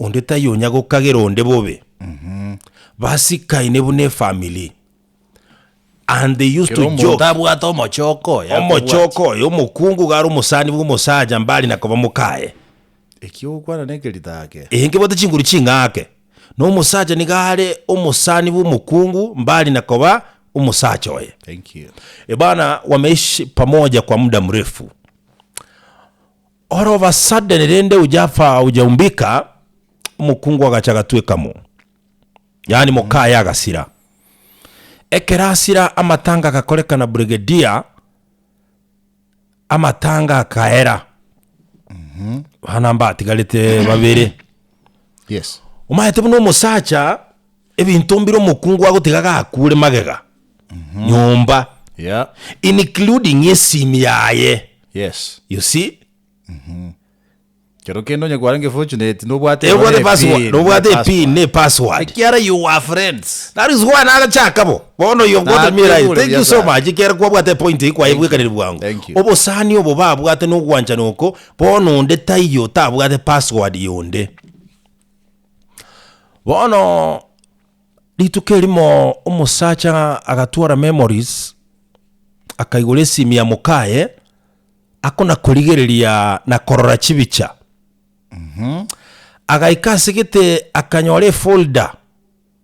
Onde taiyo onya gokagera onde bobe. Basikaine buna efamily and they used Kera to omonto joke. abwate omochoko oye Omochoko oyo omokungu iga are omosani bwa omosacha mbari na koba mokaye. Ekiogokwana na ekerita ake. Ee nkebwate chinguru ching'ake. Na omosacha niga are omosani bwa omokungu mbari na koba omosacha oye. Thank you. E bana wameishi pamoja kwa muda mrefu. Oro basadene rende ojafa ojaumbika, omokungu agacha agatweka mo, yaani mokaye agasira. Ekero asira amatanga agakorekana Brigedia, amatanga akaera, bana mbatigarete babere. Yes. Omaete buna omosacha Ebinto mbire omokungu agotiga gakuure magega, nyomba, Yeah. including esimi yaye. Yes. You see? Kero kende onye kwarenge fortunate nobwate Tebwate nonye password, pin, nobwate nobwate epin ne password. Ekiara you were friends. That is why nagachaka bo. Bono yo Na what me right. tebure Thank you so biasara. much. Kera kwabwate point Thank ikwayebwekanire you. bwangu. Thank you. Obosani obo babwate nogwanchana oko, bono onde taiyo tabwate password yonde. Bono rituko erimo omosacha agatwara memories akaigora esimi ya mokaye akona korigereria na korora chibicha agaika ase gete akanyora efolder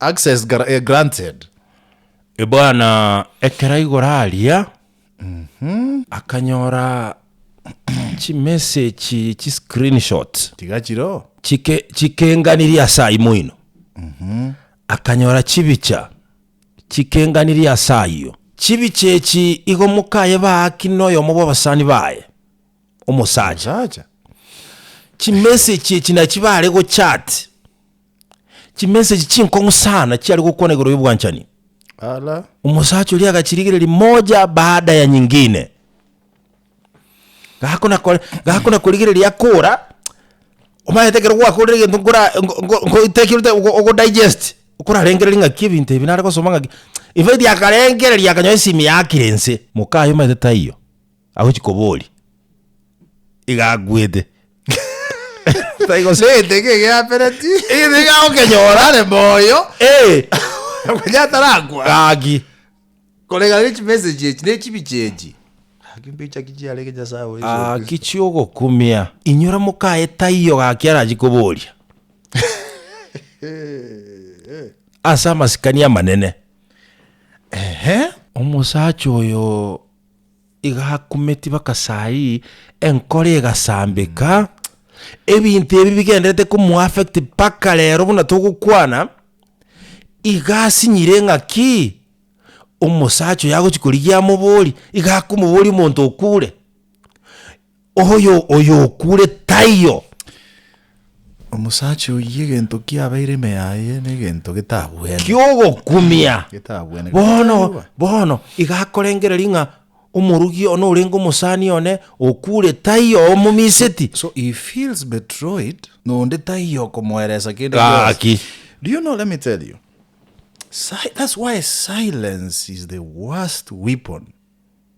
Access granted e bwana ekero aigora aria akanyora chi message chi screen shot tiga chiro chike chikenganirie ase aimo ino akanyora chibicha chikenganirie ase ayio chibicha echi igo mokaye baaki na oyomo bwa abasani baye omosacha omosacha chi message echi nachi bare go chat Chimeseji chinkong'u sana chiare gokwana igoro y'obwanchani. Ala. Omosacha oria agachirigereria moja baada ya nyingine. Gakona kore, gakona korigereria akora. Omanyete ekero gwakorire egento nkora nkoitekerete ogo digest. Okorarengereria ng'aki ebinto ebi nare gosoma ng'aki. In fact akarengereria akanyora esimi yakire inse. Mokaye omanyete taiyo. Agochi koboria. Iga akwete. Tai gose. Nete ki egeapereti? Egento iga agokenyora are moyo. Eh. Onye atarakwa. Gaki. Koreng'ana ne chimessage echi, ne chibicha echi. Gaki mbicha ki chiarenge Nyasae obo Yeso Kristo? Gaki chi'ogokumia. Inyora mokaye taiyo gaki arachi koboria. Ase amasikani amanene. Ehe. Omosacha oyo. igakumeti bakasai, enkoro egasambeka, ebinto ebi bigenderete komu affect mpaka rero buna togokwana, iga asinyire ng'a ki? omosacha oyo agochi korigia amoborie, iga akomoboria omonto okure. Oyo oyokuure taiyo. Omosacha oyio egento kiabeire ime yaye negento getabwene. Kiogokumia. Getabwene. Bono, Getabwene. bono, iga akorengereria ng'a omorogi one orenge omosani one okuure taiyo omomiseti. So he feels betroyed nonde taiyo okomoeresa kende Gaki. gionsi. Do you know, let me tell you, si- that's why silence is the worst weapon.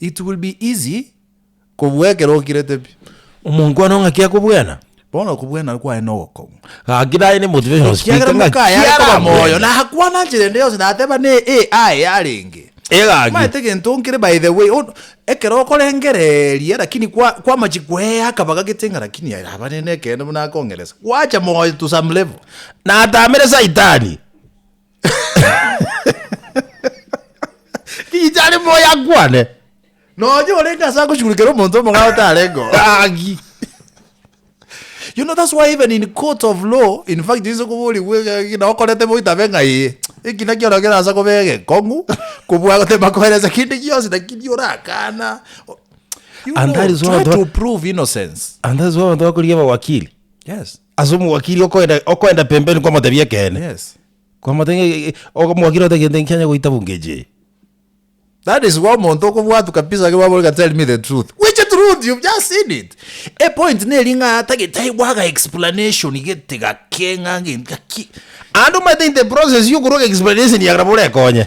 It will be easy kobua ekero okirete pi. Omonto one ng'aki akobwena. Bono okobwena kwaye nogokomu. Gaki naye ne motivational speaker Ekiagera ng'aki mokaye are koba moyo, arabwene. na akwana nchera ende yonsi, na ateba ne e aye yarenge. Egaki. Omanyete egento nkere by the way, on- ekero okorengereria lakini kwa kwamachi kwea akabaga gete ng'a lakini aye naba nende ekeene buna akong'eresa, gwacha moyo to some level. Natamere saitani. Ticha are moyo akwane. Nonya orenge ase agochurukera omonto omogao otarengeo. Agi. You know that's why even in court of law in fact inse koborigwe egeki na okorete boitabe ng'a ee eki naki ora kera asa kobe egekong'u kobua gotema koeresa kende gionsi lakini orakana. O- You And know, that is why try the- to prove innocence. And that's why abantu bakorigia abawakili. Yes. Ase omowakiri okoenda okoenda pembeni kwamotebia ekeene. Yes. Kwamotebia ng'a e- e- ogo- omowakiri ogote egento nkianya goita bunga echi eye. That is why omonto okobwatwa kabisa ekero bamore ng'a tell me the truth. Which truth? You've just seen it. E point neri ng'a tagi tai gwaga explanation gete gake ng'a gento gaki. Aande omanyete in the process yokorwa explanation ya nabo orekonye.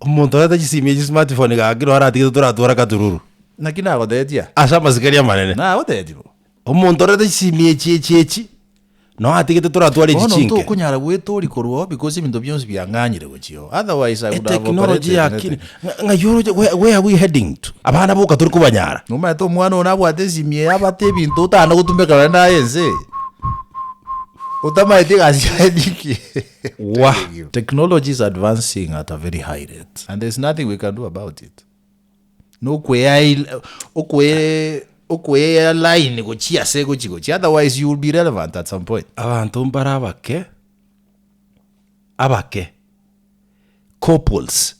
Omonto oreta chisimi echi smart phone iga kiro aratigete toratware akatururu. Naki nagotetia. Ase amasikani amanene. Nagotetia bo. Omonto oreta chisimi echi echi echi no atigete toratware echi chinke. Bono ntokonyara gwetoria korwa oo because ebinto bionsi biang'anyire gochia oo. Otherwise I would have operated anything. Ng'ai oroche where are we heading to? Abana boka tori kobanyara. Nomanyete omwana one abwate esimi eye abate ebinto otana gotumbekana naye ense eye. Otamaeti egasi yaye ninki. Wah! Technology is advancing at a very high rate and there's nothing we can do about it. Nokweyail okwe okweya line gochia ase gochi gochi otherwise you will be relevant at some point. Abanto mbare abake abake couples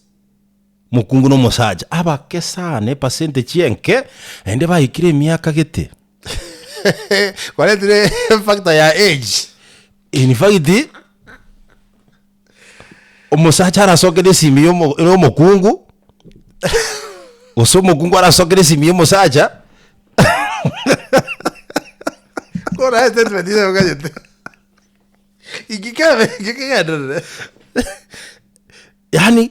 mokungu na omosacha abake sana epercentage enke naende baikire emiaka gete Kwaretire factor ya age. In fact, omosacha arasokere esimi ya omo- ya omokungu, gose omokungu arasokere esimi ya omosacha. Kore aye statement ere oganyete. Inki kebe, inki kegenderere? Yaani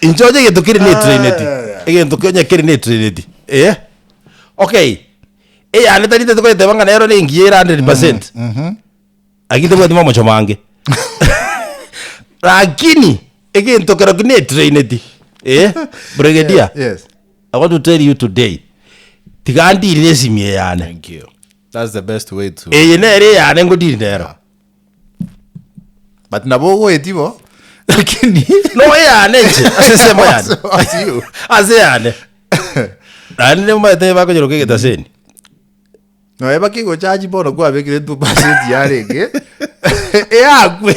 inche onye egento kere netrainedi egento onye kere netrainedi eh okay eyane tari tete koyeteba ng'a nero nengiya ere hundred percent lakini tebwati momocho mange lakini egento keroki netrainedi eh brigedia Yes. I want to tell you today tiga ndiri nesimi eyane Thank you. That's the best way to. eye nere eyane ngodiri nero but nabo ogoeti bo lakini no eyane nche ase ensemo yane What's you? ase yane nani nemaete bakonyeroka egetaseni noe bakigochaji bono kwabekire tu pasenti yarenge eyakwe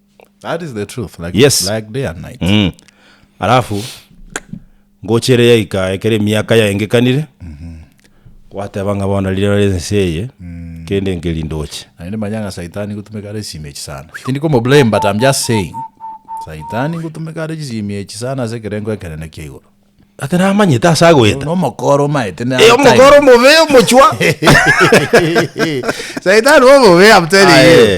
That is the truth. Like, Yes. like day and night. Mm. alafu ngocha ere yaika ekero emiaka yaengekanire gwateba ng'a bono riria bare ense eye kende nkeri ndoche Naende manyanga saitani gutumika are esimi echi sana. Tindi komo blame but I'm just saying. Saitani gutumika are chisimi echi sana ase ekerengo ekenene kia igoro. ate namanyete ase agoeta No mokoro maete na Eh, omokoro omobe omochwa Saitani omobe I'm telling you. Aye.